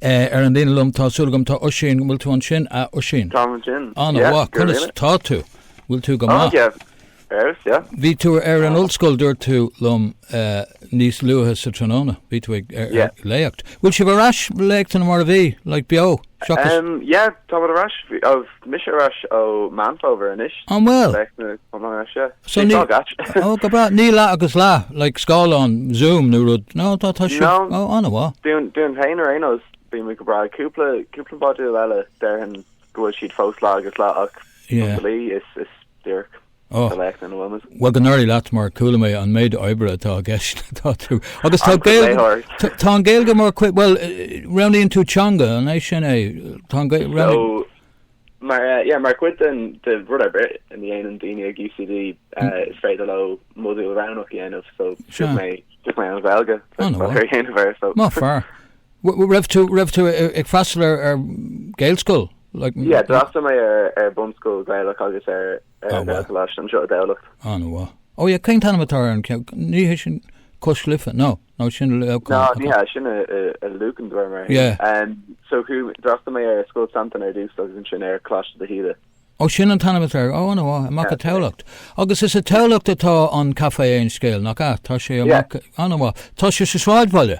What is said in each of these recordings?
Eh, ar an líne liom, tá súil agam, tá Oisín, bhfuil tú ansin? Ah, Oisín. Táim ansin. Anna, yeah, bhá, conas tá tú? Bhfuil tú go maith? Oh, Eris, yeah. Bhí tú ar an ollscoil dúirt tú liom eh, níos luaithe sa tráthnóna. Bhí tú ag léacht. Bhfuil sibh ar ais léachtanna mar a bhí, le beo? Seachas... Um, yeah, táim ar ais. Mise ar ais ó Meán Fómhair anois. An bhfuil? Bheadh na comórtha seo. So Bhí ní- fáth gait. Ó, go breá. Níl leath agus leath, like scáileán Zoom nó rud. Nó tá, tá siad. No. Ó, ana-mhaith. Dúinn dúinn féin ar aon nós bhí muid go breá ag cúpla cúpla modúl eile déarfainn go bhfuil siad fós leath agus leath ach Yeah. dlí is is díreach. Ó, bhuel go n-éirí leat mar chuala mé an méid oibre atá i gceist ann atá tú. Agus tá Gaeilge, tá an Gaeilge mar chuid, bhuel, roghnaíonn tú teanga, an é sin é? Tá an Gaeilge. Mar, yeah, mar chuid den de rud ar bith a dhéanann daoine ag UCD, is féidir leo modúl roghnach a dhéanamh, so roghnaigh mé, roghnaigh mé an Ghaeilge, ar dhéanamh air, so. Maith fear. Raibh tú, raibh tú ag freastal ar Gaelscoil? Yeah, d'fhreastail mé ar bunscoil Ghaelach agus ar Ghaelcholáiste anseo i dTamhlacht. An-mhaith. Oh yeah, cén t-ainm atá ar an cheann? Ní hé sin Cois Life? No, no, sin i Leamhcán. Ná, ní hea, sin i Lucan, déarfaidh mé. Yeah. So chuaigh mé, d'fhreastail mé ar Scoil Santain ar dtús agus ansin ar Coláiste de hÍde. Oh, sin an t-ainm atá air. Oh, an-mhaith, amach i dTamhlacht. Agus is i dTamhlacht atá an Café Aon Scéal, nach ea? Tá sé amach, an-mhaith. Tá sé sa sráidbhaile.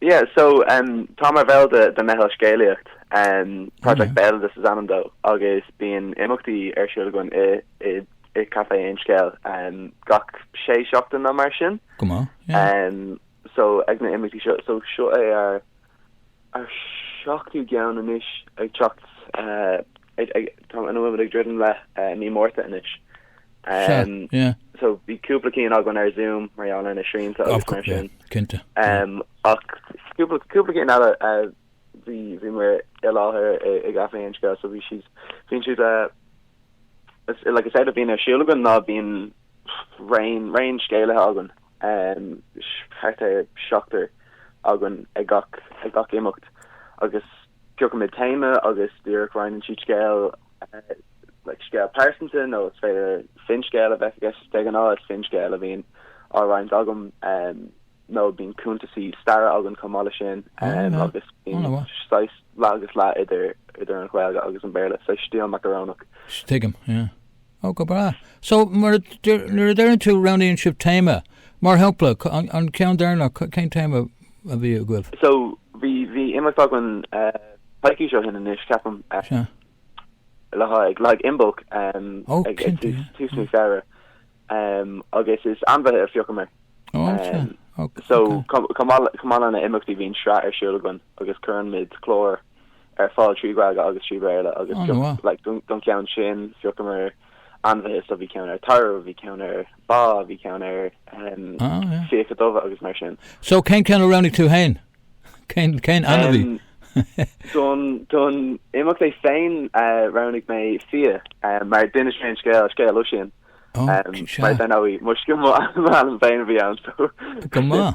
Yeah so um táim mar bhall de de meitheal scéalaíocht um Project Béaloideas is ainm dó agus bíonn imeachtaí ar siúl againn i i i Café Aon Scéal um gach sé seachtain nó mar sin. Go maith, yeah. Um so ag na imeachtaí seo so seo é ar ar seachtú gceann anois ag teacht uh ag, ag, tá, ina bhfuil muid ag druidim le eh, i mí Márta anois. Sea, Em, yeah. so, bhí cúpla ceann againn ar Zoom, mar gheall ar na srianta Of agus mar course, yeah, sin. cinnte. Em, ach cúpla, cúpla ceann eile, eh, bhí, bhí muid i láthair i, i gCaifé Aon Scéal, so bhí siad, bhíonn siad, eh, is, like, is éard a bhíonn ar siúl againn ná bíonn raon, raon scéalaithe againn. thart ar sheachtar againn ag gach imeacht agus piocaimid téama agus díreach roinneann siad scéal, like scéal pearsanta nó is féidir finscéal a bheith i gceist. De ghnáth is finscéal a bhíonn á roinnt agam nó bíonn cuntaisí staire againn chomh maith le sin agus bíonn saghas leath agus leath idir an Ghaeilge agus an Béarla, so stíl macarónach. Tuigim, yeah. Oh go breá. So mar a deir, nuair a deireann tú roghnaíonn sibh téama, mar shampla, an ceann deireanach, cén téama a bhí agaibh? So bhí bhí imeacht againn coicís ó shin anois, ceapaim, le haghaidh Imbolc ag tús mí Feabhra agus is ainmhithe a phiocamar. So chomh maith lena imeachtaí bhíonn sraith ar siúl againn agus cuireann muid clár. ar fáil trí Ghaeilge agus trí Bhéarla agus phioc don cheann sin phiocamar ainmhithe so bhí ceann ar tarbh, bhí ceann ar ba, bhí ceann ar phíoca dubha agus mar sin. So cén ceann a roghnaigh tú féin? Cén cén ainmhí? Don don imeacht é féin roghnaigh mé fia mar d'inis mé an scéal, scéal Oisín mar ar ndóigh toisc mo mo ainm féin a bhí ann so. Go maith.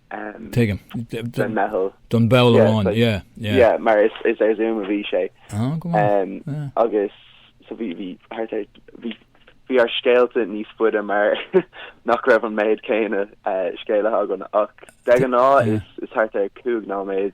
Tuigim. Don mheitheal. Don ball amháin, yeah, yeah. Yeah, mar is ar Zoom a bhí sé. Ah, go maith, yeah. Agus, so bhí, bhí, thart ar, bhí, bhí ár scéalta níos faide mar nach raibh an méid céanna scéalaithe againn ach de ghnáth is thart ar cúig nóiméad.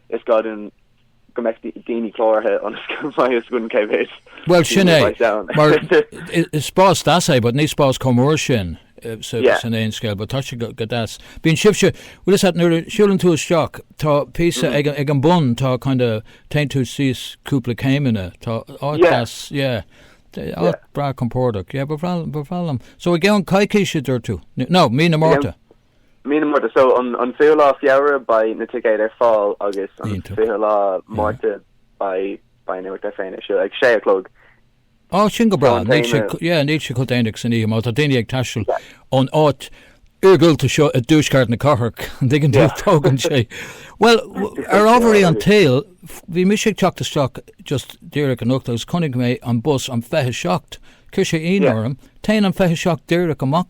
Is gá dúinn go mbeadh daoine cláraithe ionas go mbeidh fhios againn cé mhéad daoine a bheas ann. Bhuel, sin é. Mar is spás deas é, but ní spás chomh mór sin sa, Yeah. san aon scéal, but tá sé go, go deas. Bíonn sibhse, bhfuil fhios agat, nuair a siúlann tú isteach, tá píosa ag, an- ag an bun, tá kind of, téann tú síos cúpla céimeanna, tá áit Yeah. deas, yeah. Tá áit Yeah. breá compordach, yeah, ba bhreá, ba bhreá liom. So i gceann coicís a dúirt tú? N- No, mí na Márta. Mí na Márta, so an fichiú lá Feabhra beidh na ticéid ar fáil agus an fichiú lá Márta beidh beidh an imeacht é féin ar siúl ag sé a chlog. Á sin go breá, níl sé yeah níl sé chomh déanaigh san oíche má tá daoine ag taisteal ón áit iargúlta seo i dtuaisceart na cathrach an dtuigeann tú tógann sé bhuel ar ámharaí an tsaoil bhí mise ag teacht isteach just díreach anocht agus chonaic mé an bus an 27 chuir sé ionadh orm téann an 27 díreach amach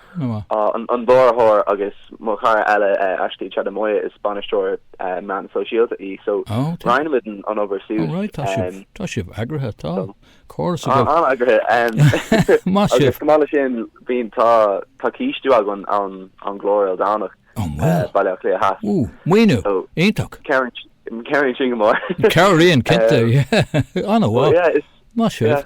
Nua. An mbrathadóir agus mo chara eile Aoife, Moya is bainisteoir meán sóisialta í so roinnimid an obair suas. Ó right, tá sibh, tá sibh eagraithe, tá córas agat. Tá, an-eagraithe. Maith sibh. Agus chomh maith le sin bíonn, tá, tá cistiú againn ón gClár Éire Ildánach, Baile Átha Cliath Theas. Ooh, maoiniú, iontach. Cabhraíonn sin go mór. Cabhraíonn, cinnte, yeah. An-mhaith. Maith sibh.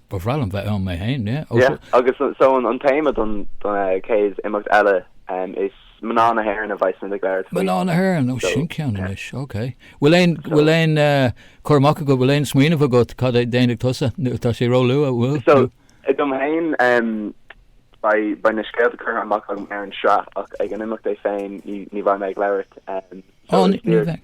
Ba bhreá liom bheith ann mé féin, yeah, ó seo. Yeah, agus so an téama don chéad imeacht eile is Mná na hÉireann a bheidh sinn ag labhairt faoi. Mná na hÉireann, ó sin ceann anois, ok. Bhfuil aon, bhfuil aon, cur amach agat, bhfuil aon smaoineamh agat cad é déanfaidh tusa, tá sé róluath, bhfuil? So, dom féin, beidh, beidh na scéalta curtha amach agam ar an sraith ach ag an imeacht é féin ní, ní bheidh mé ag labhairt, so is díreach.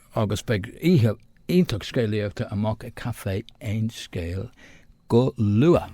agus beidh oíche iontach scéalaíochta amach i gCaifé Aon Scéal go luath!